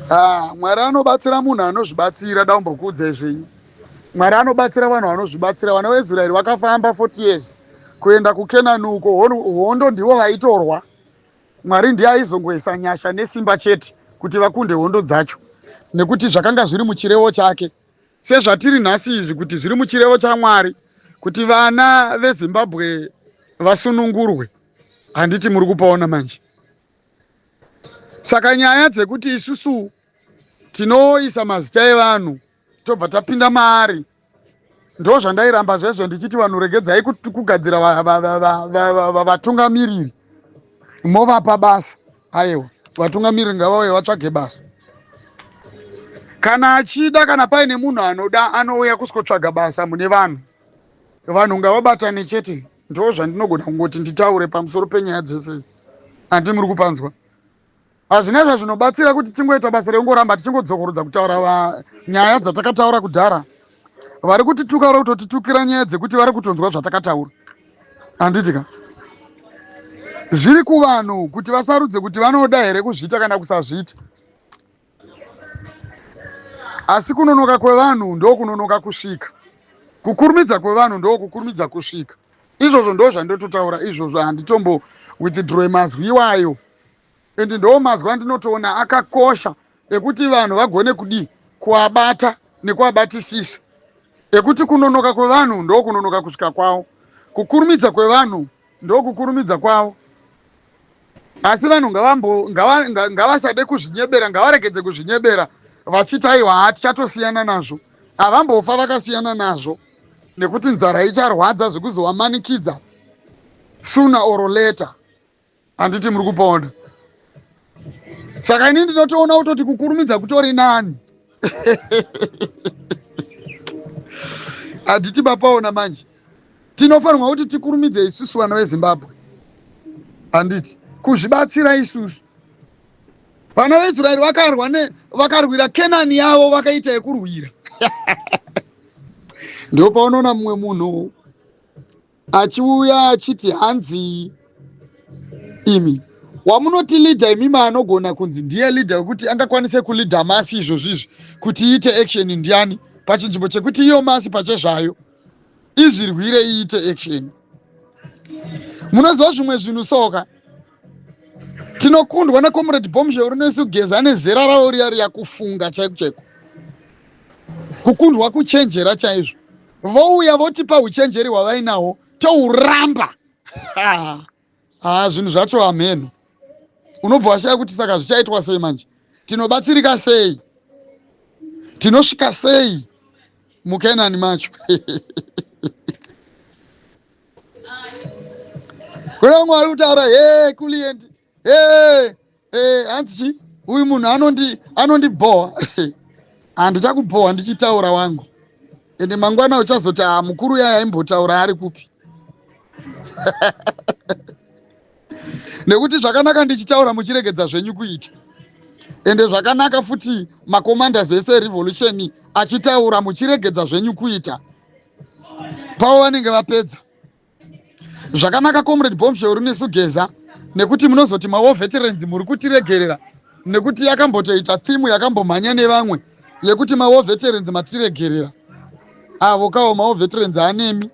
Ah, Mwari anobatsira munhu anozvibatsira daumbokuudza izvinyi. Mwari anobatsira vanhu vanozvibatsira. Vana veIsraeri vakafamba 40 years kuenda kuKenani uko hondo ndivo vaitorwa. Mwari ndiye aizongoisa nyasha nesimba chete kuti vakunde hondo dzacho nekuti zvakanga zviri muchirevo chake. Sezvatiri nhasi izvi kuti zviri muchirevo chaMwari kuti vana veZimbabwe vasunungurwe. Handiti muri kupaona manje. saka nyaya dzekuti isusu tinoisa mazita evanhu tobva tapinda maari ndo zvandairamba zvezvo ndichiti vanhu regedzai kugadzira vatungamiriri movapa basa aiwa vatungamiriri ngavauye vatsvage basa kana achida kana paine munhu anoda anouya kuskotsvaga basa mune vanhu vanhu ngavabatane chete Ndoo zvandinogona kungoti nditaure pamusoro penyaya dzese idzi. Handi muri kupanzwa. Hazvina zvazvinobatsira kuti tingoita basa rekungoramba tichingodzokorodza kutaura va nyaya dzatakataura kudhara. Vari kutituka vari kutotitukira nyaya dzekuti vari kutonzwa zvatakataura. Handiti ka? Zviri kuvanhu kuti vasarudze kuti vanoda here kuzviita kana kusazviita. asi kunonoka kwevanhu ndokunonoka kusvika kukurumidza kwevanhu ndokukurumidza kusvika izvozvo ndo zvandototaura izvozvo handitombo withdrowe mazwi iwayo and ndoo mazwi andinotoona akakosha ekuti vanhu vagone kudii kuabata nekuabatisisa ekuti kunonoka kwevanhu ndokunonoka kusvika kwavo kukurumidza kwevanhu ndokukurumidza kwavo asi vanhu ngavasade kuzvinyebera ngavaregedze kuzvinyebera vachiti aiwa haa tichatosiyana nazvo havambofa vakasiyana nazvo nekuti nzara icharwadza zvekuzovamanikidza suna or later handiti muri kupona saka ini ndinotoona kutoti kukurumidza kutori nani handiti mapaona manje tinofanirwa kuti tikurumidze isusu vana vezimbabwe handiti kuzvibatsira isusu vana veisraeri vakarwa ne vakarwira kenani yavo vakaita yekurwira ndipo paunoona mumwe munhu achiuya achiti hanzii imi wamunoti leader imima anogona kunzi ndiye leader wekuti angakwanise kuleader masi izvozvi izvi kuti iite action ndiani pachinzvimbo chekuti iyo masi pachezvayo izvirwire iite action munoziva zvimwe zvinhu soka tinokundwa necomrade bomshel rinoisi kugeza nezera ravo riya riya kufunga chaiko chaiko kukundwa kuchenjera chaizvo vouya votipa huchenjeri hwavainawo touramba haa ah, zvinhu zvacho hameno unobva washaya kuti saka zvichaitwa sei manje tinobatsirika sei tinosvika sei mukenani macho kuna mwari kutaura he kuliendi hey, hey, hanzi chi uyu munhu anondi anondibhowa handichakubhowa ndichitaura wangu ende mangwana uchazoti haa ah, mukuru yaya imbotaura ari kupi nekuti zvakanaka ndichitaura muchiregedza zvenyu kuita ende zvakanaka futi macommanders ese erevolution achitaura muchiregedza zvenyu kuita pavo vanenge vapedza Zvakanaka comrade Bombshell rine sugeza nekuti munozoti mawo veterans muri kutiregerera nekuti yakambotoita thimu yakambomhanya nevamwe yekuti mawo veterans matiregerera avo kawo mawo veterans anemi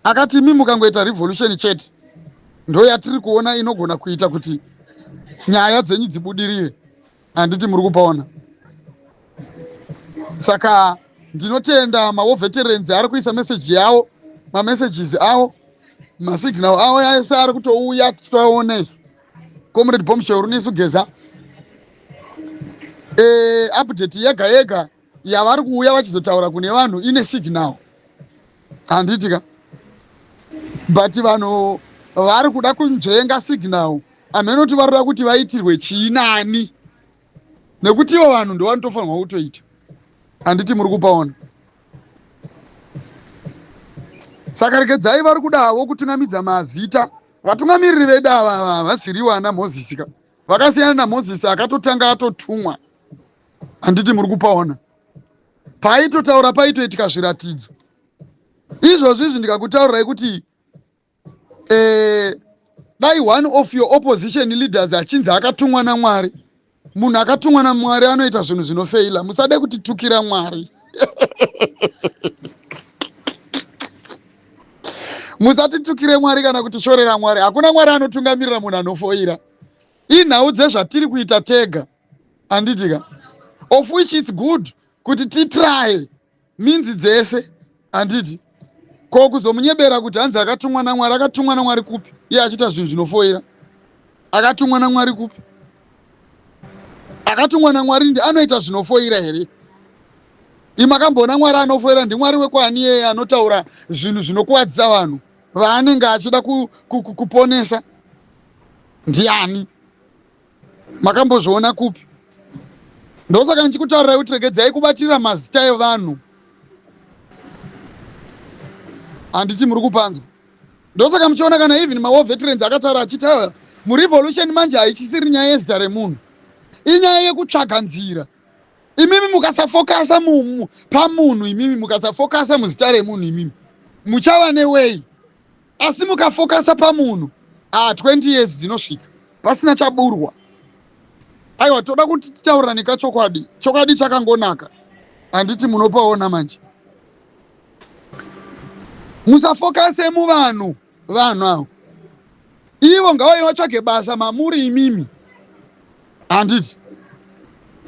akati imi mukangoita revolution chete ndoyatiri kuona inogona kuita kuti nyaya dzenyu dzibudirire handiti muri kupaona saka ndinotenda mawo veterans ari kuisa meseji yawo mamessages awo masignal awo ese ari kutouya tichitoaona isu comrade bomshor nesu geza e, update yega yega yavari kuuya vachizotaura kune vanhu ine signal handitika but vanhu vari kuda kunzvenga signal Hameno kuti varoda kuti vaitirwe chii nani nekuti ivo vanhu ndovanotofanirwa kutoita handiti muri kupaona saka regedzai vari kudavo kutungamidza mazita vatungamiriri vedu ava havasiriwo ana mozisi ka vakasiyana namozisi akatotanga atotumwa handiti muri kupaona paaitotaura paitoitika zviratidzo izvozvi izvi ndikakutaurirai kuti eh, dai one of your opposition leaders achinzi akatumwa namwari munhu akatumwa namwari anoita zvinhu zvinofeila musade kutitukira mwari musatitukire mwari kana kutishorera mwari hakuna mwari anotungamirira munhu anofoira inhau dzezvatiri kuita tega handitika of which its good kuti titraye minzi dzese handiti ko kuzomunyebera kuti hanzi akatumwa namwari akatumwa namwari kupi iye achiita zvinhu zvinofoira akatumwa namwari kupi akatumwa namwari ndi anoita zvinofoira here imakamboona mwari anofoira ndimwari wekwaani iyeye anotaura zvinhu zvinokuvadzisa vanhu vaanenge achida kuponesa ku, ku, ndiani makambozviona kupi ndosaka ndichikutarirai kuti regedzai kubatira mazita evanhu handiti muri kupanzwa ndosaka muchiona kana even mawar veterans akataura achitaura murevolution manje haichisiri nyaya yezita remunhu inyaya yekutsvaga nzira imimi mukasafokasa pamunhu imimi mukasafokasa muzita remunhu imimi muchava newei asi mukafokasa pamunhu ah 20 years dzinosvika pasina chaburwa aiwa toda kuti titaurirane kachokwadi chokwadi chakangonaka handiti munopaona manje musafokase muvanhu vanhu avo ivo ngavai vatsvage basa mamuri imimi handiti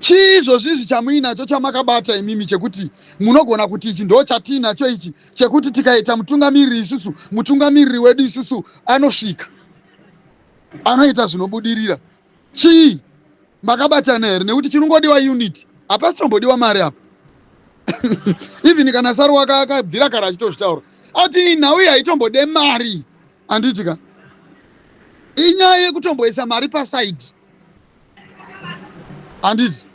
chii izvozvi izvi chamuinacho chamakabata imimi chekuti munogona kuti ichi ndo chatiinacho ichi chekuti tikaita mutungamiriri isusu mutungamiriri wedu isusu anosvika anoita zvinobudirira chii makabatana here nekuti chinongodiwa unit hapasi tombodiwa mari apa even kana saruwaka akabvira kare achitozvitaura ati nhau iyi haitombode mari Anditi ka inyaya yekutomboisa mari paside anditi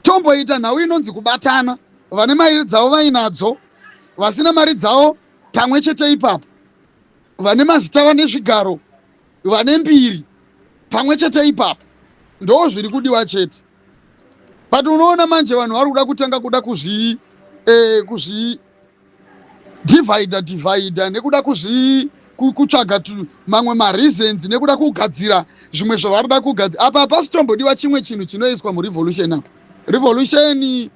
tomboita nhau inonzi kubatana vane mari dzavo vainadzo vasina mari dzavo pamwe chete ipapo vane mazita vane zvigaro vane mbiri pamwe chete ipapo ndoo zviri kudiwa chete but unoona manje vanhu vari kuda kutanga kuda kuzvii eh, kuzvii divider divider nekuda kuzvi kutsvaga mamwe mareasons nekuda kugadzira zvimwe zvavari da kugadzira apa hapasi tombodiwa chimwe chinhu chinoiswa murevolution apa revolution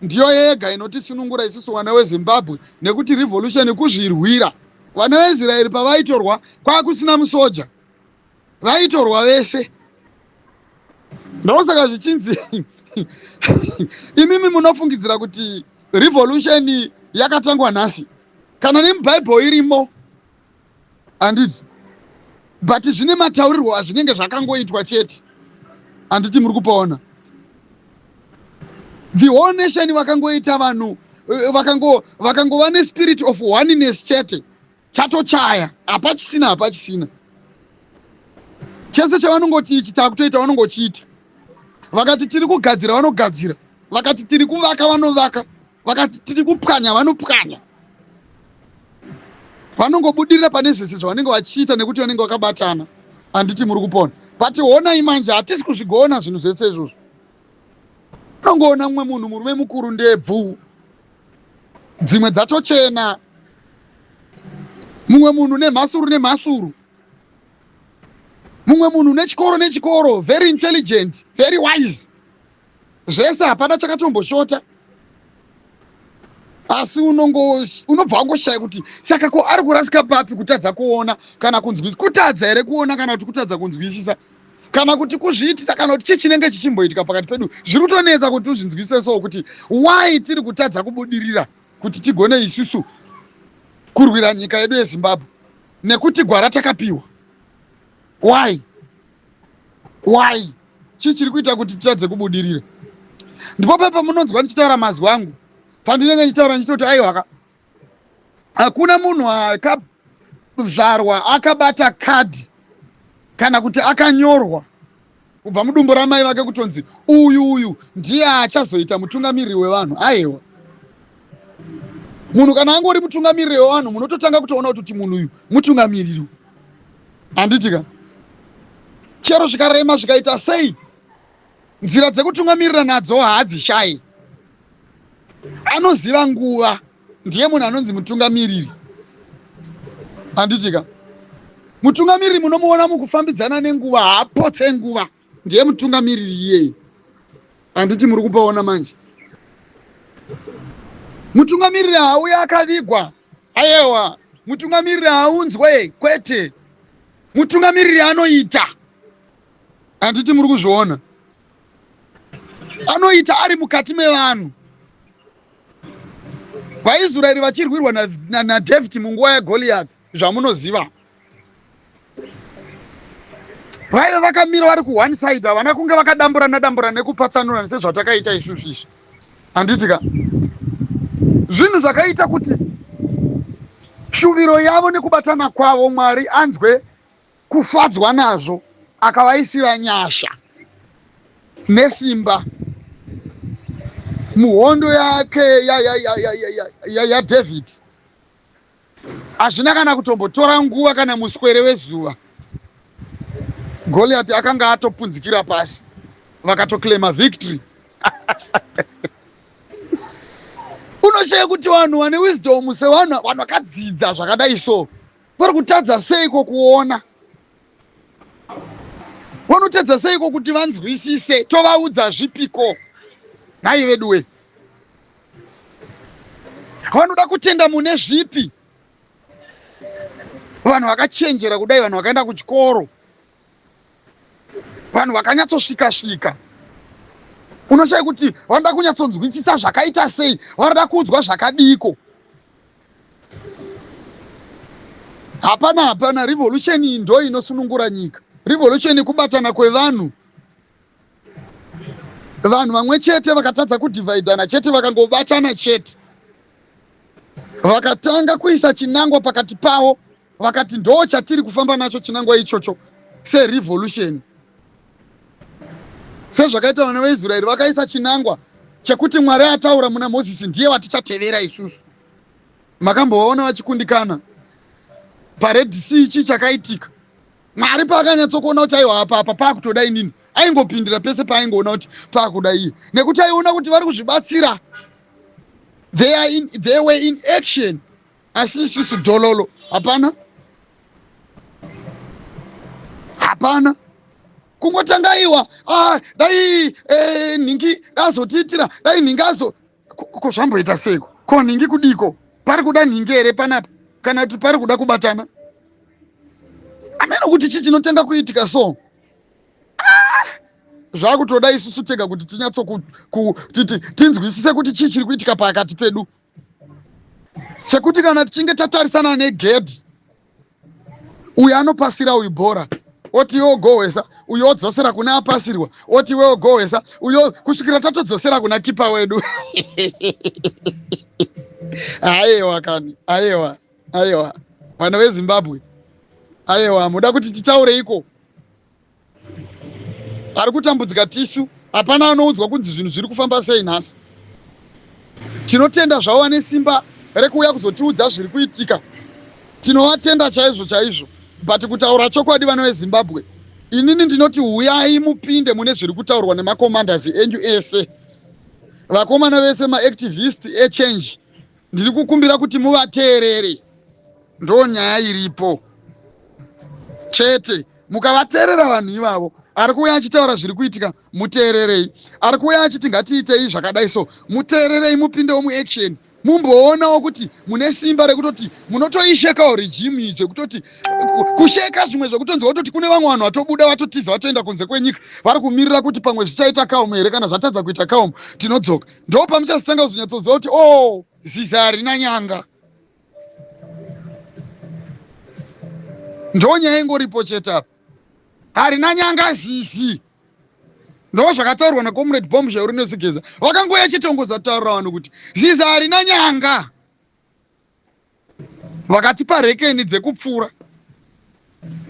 ndiyo yega inotisunungura isusu vana wezimbabwe nekuti revolution kuzvirwira vana veisraeri pavaitorwa kwakusina musoja vaitorwa vese ndosaka zvichinzi imimi munofungidzira kuti revolution yakatangwa nhasi kana nemubhaibheri irimo handiti but zvine mataurirwo azvinenge zvakangoitwa chete handiti muri kupaona the whole nation vakangoita vanhu vakangova nespirit of oneness chete chatochaya hapachisina hapachisina chese chavanongoti ichi takutoita vanongochiita vakati tiri kugadzira vanogadzira vakati tiri kuvaka vanovaka vakati tiri kupwanya vanopwanya vanongobudirira pane zvese zvavanenge vachiita nekuti vanenge vakabatana handiti muri kupona but honai manje hatisi kuzvigona zvinhu zvese izvozvo unongoona mumwe munhu murume mukuru ndebvu dzimwe dzatochena mumwe munhu nemhasuru nemhasuru mumwe munhu nechikoro nechikoro very intelligent very wise zvese hapana chakatomboshota asi unongo unobva wangoshaya kuti saka ko ari kurasika papi kutadza kuona kana kunzwisisa kutadza here kuona kana kuti kutadza kunzwisisa kana kuti kuzviitisa kana kuti chii chinenge chichimboitika pakati pedu zviri kutonetsa kuti uzvinzwisise so kuti why tiri kutadza kubudirira kuti tigone isusu kurwira nyika yedu yezimbabwe nekuti gwara takapiwa why why chii chiri kuita kuti titadze kubudirira ndipo pepamunonzwa ndichitaura mazwi angu pandinenge ndichitaura ndichitoti aiwaka hakuna munhu akazvarwa akabata kadhi kana kuti akanyorwa kubva mudumbu ramai vake kutonzi uyu uyu ndiye achazoita mutungamiriri wevanhu aiwa munhu kana angori mutungamiriri wevanhu munototanga kutoona kuti munhu uyu mutungamiriri handitika chero zvikarema zvikaita sei nzira dzekutungamirira nadzo haadzishayi anoziva nguva ndiye munhu anonzi mutungamiriri handitika mutungamiriri munomuona mukufambidzana nenguva haapotse nguva ndiye mutungamiriri iyeye handiti muri kupaona manje mutungamiriri haauya akavigwa ayewa mutungamiriri haunzwe kwete mutungamiriri anoita handiti muri kuzviona anoita ari mukati mevanhu vaisraeri vachirwirwa nadhavhidhi munguva yagoriyati zvamunoziva vaive vakamira vari kuone side havana kunge vakadamburana damburana nekupatsanurana sezvatakaita isusu izvi handiti ka zvinhu zvakaita kuti shuviro yavo nekubatana kwavo mwari anzwe kufadzwa nazvo akavaisira nyasha nesimba muhondo yake yadhavid hazvina kana kutombotora nguva kana muswere wezuva goliati akanga atopunzikira pasi vakatoclaima victory unoshaya kuti vanhu vane wisdom sevanhu vanhu vakadzidza zvakadai so vari kutadza seiko kuona vanotadza seiko kuti vanzwisise tovaudza zvipiko nhai veduwe vanoda kutenda mune zvipi vanhu vakachenjera kudai vanhu vakaenda kuchikoro vanhu vakanyatsosvika svika unoshaya kuti vanoda kunyatsonzwisisa zvakaita sei vanoda kuudzwa zvakadiiko hapana hapana revolution iyi ndo inosunungura nyika revolution ikubatana kwevanhu vanhu vamwe chete vakatadza kudivhaidhana chete vakangobatana chete vakatanga kuisa chinangwa pakati pavo vakati ndoo chatiri kufamba nacho chinangwa ichocho serevolution sezvakaita vana veisraeri vakaisa chinangwa chekuti mwari ataura muna mozisi ndiye vatichatevera isusu makambovaona vachikundikana pared sea ichi chakaitika mwari paakanyatsokuona kuti aiwa apa apa paakutoda inini aingopindira pese paaingoona kuti paakuda iye nekuti aiona kuti vari kuzvibatsira they, in, they were in action asi isusu dololo hapana hapana kungotanga iwa ah, dai eh, nhingi dazotiitira dai nhingi azo ko zvamboita seiko ko nhingi kudiko pari kuda nhingi here panapa kana kuti pari kuda kubatana ameno kuti chii chinotanga kuitika so ah, zvakutoda isusu tega kuti tinyatso tinzwisise kuti chii chiri kuitika pakati pedu chekuti kana tichinge tatarisana negedhi uyu anopasira uyu bhora oti iwe ogohwesa uyo odzosera kune apasirwa oti iwe ogohwesa uyo kusvikira tatodzosera kuna kipa wedu ayewa kani ayewa ayewa vana vezimbabwe ayewa muda kuti titaureiko ari kutambudzika tisu hapana anoudzwa kunzi zvinhu zviri kufamba sei nhasi tinotenda zvavo vane simba rekuuya kuzotiudza zviri kuitika tinovatenda chaizvo chaizvo but kutaura chokwadi vana vezimbabwe inini ndinoti huyai mupinde mune zviri kutaurwa nemakomanders enyu ese vakomana vese maactivist echange Ndiri kukumbira kuti muvateerere, ndo nyaya iripo chete. Mukavateerera vanhu ivavo, ari kuuya achitaura zviri kuitika, muteererei. Ari kuuya achiti ngatiitei zvakadai so, muteererei, mupindewo muaction mumboonawo kuti mune simba rekutoti munotoishekawo rejimu iyi zvekutoti kusheka zvimwe zvekutonzi watoti kune vamwe vanhu vatobuda vatotiza vatoenda kunze kwenyika vari kumirira kuti pamwe zvichaita kaomo here kana zvatadza kuita kaomo tinodzoka ndo pamuchazotanga kuzonyatsoziva kuti o oh, ziza harina nyanga ndo nyaya ingoripo chete apa harina nyanga zizi ndo zvakataurwa nacomrade bomb zvauri nesigeza vakangoya chitongoza kutaurira vanhu kuti ziza harina nyanga vakatipa rekeni dzekupfuura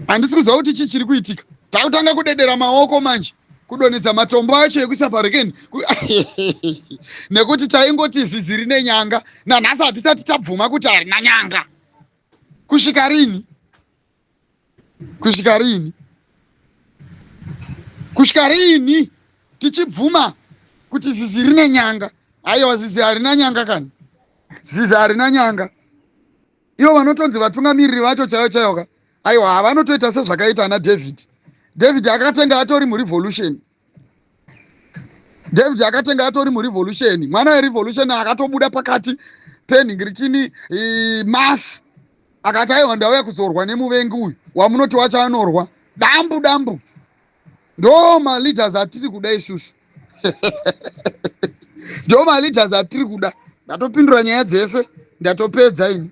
handisi kuziva kuti chii chiri kuitika takutanga kudedera maoko manje kudonhedza matombo acho ekuisa parekeni nekuti taingoti zizi rine nyanga nanhasi hatisati tabvuma kuti harina nyanga kusvika rini kusvika riini kusvika riini tichibvuma kuti zizi rine nyanga aiwa zizi harina nyanga kani zizi harina nyanga ivo vanotonzi vatungamiriri vacho chaiyo chaiyo ka aiwa havanotoita sezvakaita ana david david akatenga atori murevolution david akatenga atori murevolution mwana werevolution akatobuda pakati penhingirikini mas akati aiwa ndauya kuzorwa nemuvengi uyu wamunoti wacho anorwa dambu dambu ndo maleaders atiri kuda isusu ndo maleaders atiri kuda ndatopindura nyaya dzese ndatopedza ini